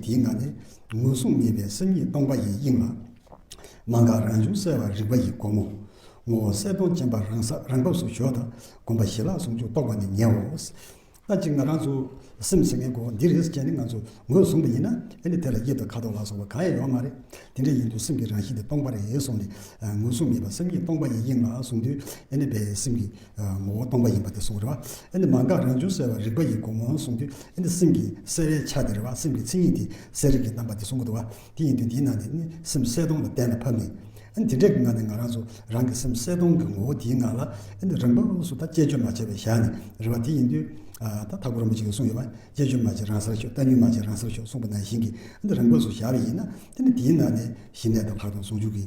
དེའི་ནང་ནས་ངོས་བཟུང་མེད་པའི་སེམས་ཉིད་སྟོང་པ་ཡི་དབྱིངས་ལ། མ་འགགས་རང་བྱུང་གསལ་བ་རིག་པ་ཡི་སྒོ་མོ། ངོ་བོ་གསལ་སྟོང་རྗེན་པ་རང་ས་རང་བབས་སུ་གཞོག་དང་སྒོམ་པ་ཞི་ལྷག་ཟུང་འཇུག་རྟོགས་པ་ནི་ཉེའོ། ལྟ་ཅི་ང་རང་ཚོ་སེམས་ཟེར་མཁན་གོ་འདི་རེད་ཅེས་ནི་ང་ཚོ་ངོས་བཟུང་པ་ཡིན་ན་ཨེ་ནི་དེ་ལ་དབྱིབས་དང་ཁ་དོག་ལ་སོགས་པ་གང་ཡང་ཡོད་མ་རེད། དེ་འདྲ་ཡིན་དུས་སེམས་ཀྱི་རང་བཞིན་དེ་སྟོང་པ་རེད་སོང་ནས་ངོས་བཟུང་མེད་པ་སེམས་ཉིད་སྟོང་པ་ཡི་དབྱིངས་ལ་བཟུང་དུས་ཨེ་ནི་བས་སེམས་ཀྱི་ངོ་བོ་སྟོང་པ་ཡིན་པ་དེ་གསུངས་རེད་བ། མ་འགགས་རང་བྱུང་གསལ་བ་རིག་པ་ཡི་སྒོ་མོ་གསུངས་དུས་སེམས་ཀྱི་གསལ་བའི་ཆ་དེ་རེད་བ། སེམས་ཀྱི་མཚན་ཉིད་དེ་གསལ་རིག་གི་རྣམ་པ་དེ་གསུངས་གི་འདུག་བ། དེ་ཡིན་དུས་འདིའི་ནང་ནས་སེམས་གསལ་སྟོང་ལ་གཏན་ལ་ཕབ་ནས། དེ་འདྲའི་ངང་ནས་ང་རང་ཚོ་རང་གི་སེམས་གསལ་སྟོང་གི་ངོ་བོ་དེའི་ངང་ལ། རང་བབས་ལོགས་སུ་ད་དཔྱད་བརྗོད་མ་བྱས་པའི་བཞག་ནས་རེད་བ། དེ་ཡིན་དུས། ད་ཐག་པོ་རིན་པོ་ཆེ་གིས་གསུངས་ཡོད་བ། དཔྱད་བརྗོད་མ་བྱེད་རང་སར་ཤོག་ལྟ་ཉུལ་མ་བྱེད་རང་སར་ཤོག་གསུངས་པ་ནང་བཞིན་གྱི། རང་བབས་སུ་བཞག་པ་ཡིན་ན། དེ་ནི་དེའི་ནང་ནས་གཞི་གནས་དང་ལྷག་མཐོང་ཟུང་འཇུག་གི།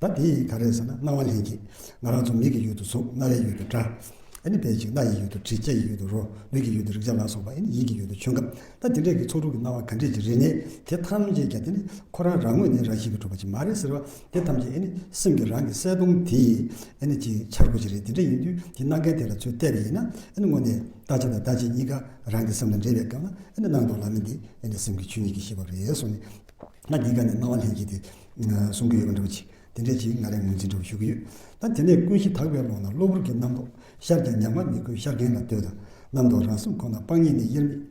ད་དེ་ག་རེད་ཟེར་ན་སྣང་བ་ལྷན་སྐྱེས། ང་རང་ཚོ་མིག་གི་ཡུལ་དུ་གཟུགས་རྣ་བའི་ཡུལ་དུ་སྒྲ། ཨེ་ནི་དཔེ་ཅིག་སྣ་ཡི་ཡུལ་དུ་དྲི་ལྕེ་ཡི་ཡུལ་དུ་རོ་ལུས་ཀྱི་ཡུལ་དུ་རེག་བྱ་ལ་སོགས་པ་ཨེ་ནི་ཡིད་ཀྱི་ཡུལ་དུ་ཆོས་སྐབས་ད་དེ་འདྲས་ཀྱི་ཚོགས་དྲུག་གི་སྣང་བ་ག་འདྲས་ཀྱི་རིག་གནས་དེ་ཐམས་ཅད་ཀྱང་དེ་ནི་ཁོ་རང་རང་ངོས་ནས་རང་བཞིན་གྱིས་གྲུབ་པ་ཅིག་མ་རེད་ཟེར་བ་དེ་ཐམས་ཅད་ཨེ་ནི་སེམས་ཀྱི་རང་གི་གསལ་སྟོང་དེ་ཡིས་ཨེ་ནི་ཅིག་འཆར་སྒོ་ཅིག་རེད་དེ་འདྲ་ཡིན་དུས་དེ་སྣང་མཁན་དེ་ལ་ཚོད་བལྟས་པ་ཡིན་ན་ཨེ་ནི་དངོས་གནས་བལྟ་བྱ་དང་བལྟ་བྱེད་གཉིས་ཀ་རང་གི་སེམས་ལ་འདྲེས་པའི་སྐབས་ན་ཨེ་ནི་སྣང་དོགས་ལ་མིན་ཏེ་ཨེ་ནི་སེམས་ཀྱི་ཆོས་ཉིད་ཀྱི་ཤེས་པ་རེད་སོང་ནས་ད་འདི་ག་ནས་སྣང་བ་ལྷན་སྐྱེས་དེ། གསུང་གི་ཡོད་པ་འགྲུབ་ཅིག་དེ་འདྲའི་ཅིག་ང་རེ་ངོས་འཛིན་འགྲུབ་ཞུ་གི་ཡོད། ད་དེ་ནས་ཀུན་གཞི་དག་པའི་ཀློང་ན་གློ་བུར་གྱི་རྣམ་རྟོག་ཤར་ཀྱང་མྱང་བ་མི་དགོས་ཤར་མཁན་ལ་ལྟོས་དང། རྣམ་རྟོག་རང་སེམས་ཁོ་ན་སྤང་ཉིད་ནི་དབྱེར་མེད།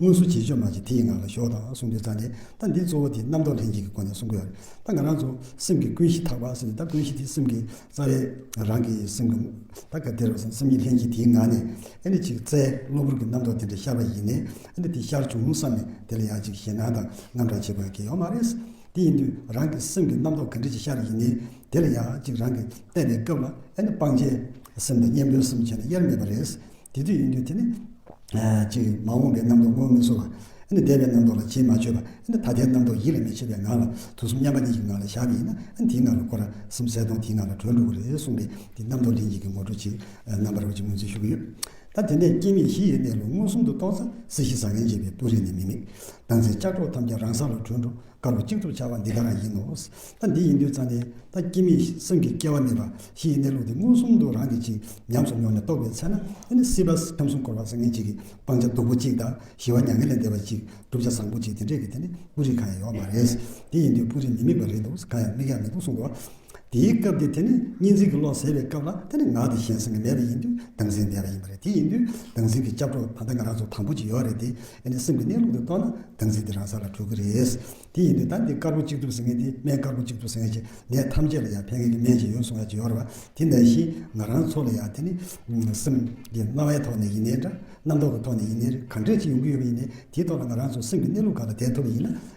དངོས་སུ་བྱེད་ཆོས་མ་བྱས་དེ་ཡི་ངང་ལ་ཞོག་དང་གསུང་འདོན་རྩ་འགྲེལ་ད་འདི་གཙོ་བོ་དེ་རྣམ་རྟོག་ལྷན་ཅིག་གི་སྒོ་ནས་གསུང་གི་ཡོད། ད་ང་རང་ཚོ་སེམས་ཀྱི་ཀུན་གཞི་དག་པ་ཟེར་ནས་ད་ཀུན་གཞི་དེ་སེམས་ཀྱི་རྩ་བའི་རང་གི་སེམས་ཀྱི་ད་ག་དེར་བ་སེམས་ཉིད་ལྷན་ཅིག་དེའི་ངང་ནས་ཨེ་འདྲ་ཅིག་རྩའི་གློ་བུར་གྱི་རྣམ་རྟོག་དེ་འདྲ་ཤར་བ་ཡིན་ནས་ཨེ་འདྲ་དེ་ཤར་བྱུང་བསམ་ནས་དེ་ལ་ཡང་ཅིག་ཞེད་སྣང་དང་རྔམ་སྐྲག་བྱེད་དགོས་ཀྱི་ཡོད་མ་རེད། དེ་ཡིན་དུས་རང་གི་སེམས་ཀྱི་རྣམ་རྟོག་གི་འདྲེ་ཞིག་ཤར་ཡིན་ནི། དེ་ལ་ཡང་ཅིག་རང་གིས་གཏན་ནས་སྐབས་ལ་ཨེ་ན་སྤང་བྱའི། སེམས་དང་གཉེན་པོའི་སེམས་བྱས་ནས་དབྱེར་མེད་པ་རེད། དེ་དུས་ཡིན་དུས་དེ་ནི། ཅིག་མ་འོངས་པའི་རྣམ་རྟོག་མངོན་མི་ཚོར་བ། ཨེ་ན་འདས་པའི་རྣམ་རྟོག་ལ་ཅིས་མ་ཆོད་པ། ཨེ་ན་ད་ལྟའི་རྣམ་རྟོག་ཡིད་ལ་མི་བྱེད་པའི་ངང་ལ་དུས་གསུམ་མཉམ་པ་གཉིས་ཀྱི་ངང་ལ་བཞག་ནས་ཡིན་ན་ཨེ་ན་དེའི་ངང་ལ་འཁོར་རང་སེམས་གསལ་སྟོང་དེའི་ངང་ལ་གྲོལ་འགྲོ་གི་རེད་གསུངས་པའི་འདི་རྣམ་རྟོག་ལྷན་སྐྱེས་ཀྱི་ངོ་སྤྲོད་ཅིག་རྣམ་པར་རོལ་ཅིག་ངོས་འཛིན་ཞུ་གི་ཡོད། ད་དེ་འདྲའི་སྐྱེ་མེད་བཞི་ཡོད་པའི་ལོ་མངོན་སུམ་དུ་གཏོང་ས་སྲིད་ཞི་ཟ་མཁན་གཅིག་པའི་སྤུ་རིས་ནི་མི་མེད། ད་ཚེ་ལྕགས་སྒྲོག་ཐམས་ཅད་རང་ས་ལ་དྲུད་འགྲོ་དཀའ་ལོ་གཅིག་ཐུབ་བྱ་བ་འདི་དག་ཡིན་ནོ། ད་འདི་ཡིན་དུས་ཙང་ནི་ད་སྐྱེ་མེད་སེམས་ཀྱི་སྐྱེ་བ་མེད་པ་བཞི་ཡི་གནས་ལུགས་འདི་མངོན་སུམ་དུ་རང་གིས་ཅིག་ཉམས་སུ་མྱོང་ནས་རྟོགས་པའི་ཚེ་ན་ད་ནི་སྲིད་པ་ཁམས་གསུམ་འཁོར་བ་བཟང་ངན་གཅིག་གི་སྤང་བྱ་སྡུག་པོ་གཅིག་དང་ཞི་བ་མྱ་ངན་ལས་འདས་པ་གཅིག་བསྒྲུབ་བྱ་བཟང་པོ་གཅིག་དེ་འདྲས་ཀྱི་དེ་ནི་སྤུ་རིས་གང་ཡང་ཡོག་མ་རེད། དེ་ཡིན་དུས་སྤུ་རིས་མི་དམིགས་པ་རེད་འདུག་གང་ཡང་དམིགས་ཡག་མི་འདུག་གསུངས་པ། དེའི་སྐབས་དེ་དེ་ནི་གཉིས་འཛིན་གྱི་བློ་ཟད་པའི་སྐབས་ལ་དེ་ནི་ངག་དེ་གཞན་སེམས་ཀྱི་མེད་པ་ཡིན་དུས་སྡང་སེམས་ལྡན་པ་ཡིན་པ་རེད་དེ་ཡིན་དུས་སྡང་སེམས་ཀྱི་སྐྱབས་གྲོགས་ད་ལྟ་ང་རང་ཚོ་དང་པོ་ཅིག་ཡོད་རེད་དེ་ཨེ་ནས་སེམས་ཀྱི་གནས་ལུགས་དེ་རྟོགས་ན་སྡང་སེམས་དེ་རང་ས་ལ་གྲོལ་གི་རེད། དེ་ཡིན་དུས་ད་འདི་དཀར་པོ་གཅིག་ཐུབ་ཟེར་མཁན་དེ་སྨན་དཀར་པོ་གཅིག་ཐུབ་ཟེར་མཁན་གྱི་ནད་ཐམས་ཅད་ལ་ཡང་ཕན་མཁན་གྱི་སྨན་ཅིག་ཡོད་གསུང་ཡ་གཅིག་ཡོད་རེད་བ་དེ་འདྲ་བཞིན་ང་རང་ཚོ་ལ་ཡང་དེ་ནི་སེམས་ཀྱི་སྣང་བའི་ཐོག་ནས་ཡིན་ནའི་འདྲ་རྣམ་རྟོག་གི་ཐོག་ནས་ཡིན་ནའི་རེད་གང་འདྲས་ཅིག་ཡོང་གི་ཡོད་པ་ཡིན་ནའི་དེའི་ཐོག་ལ་ང་རང་ཚོ་སེམས་ཀྱི་གནས་ལུགས་གང་ལ་བསྡད་ཐུབ་པ་ཡིན་ན།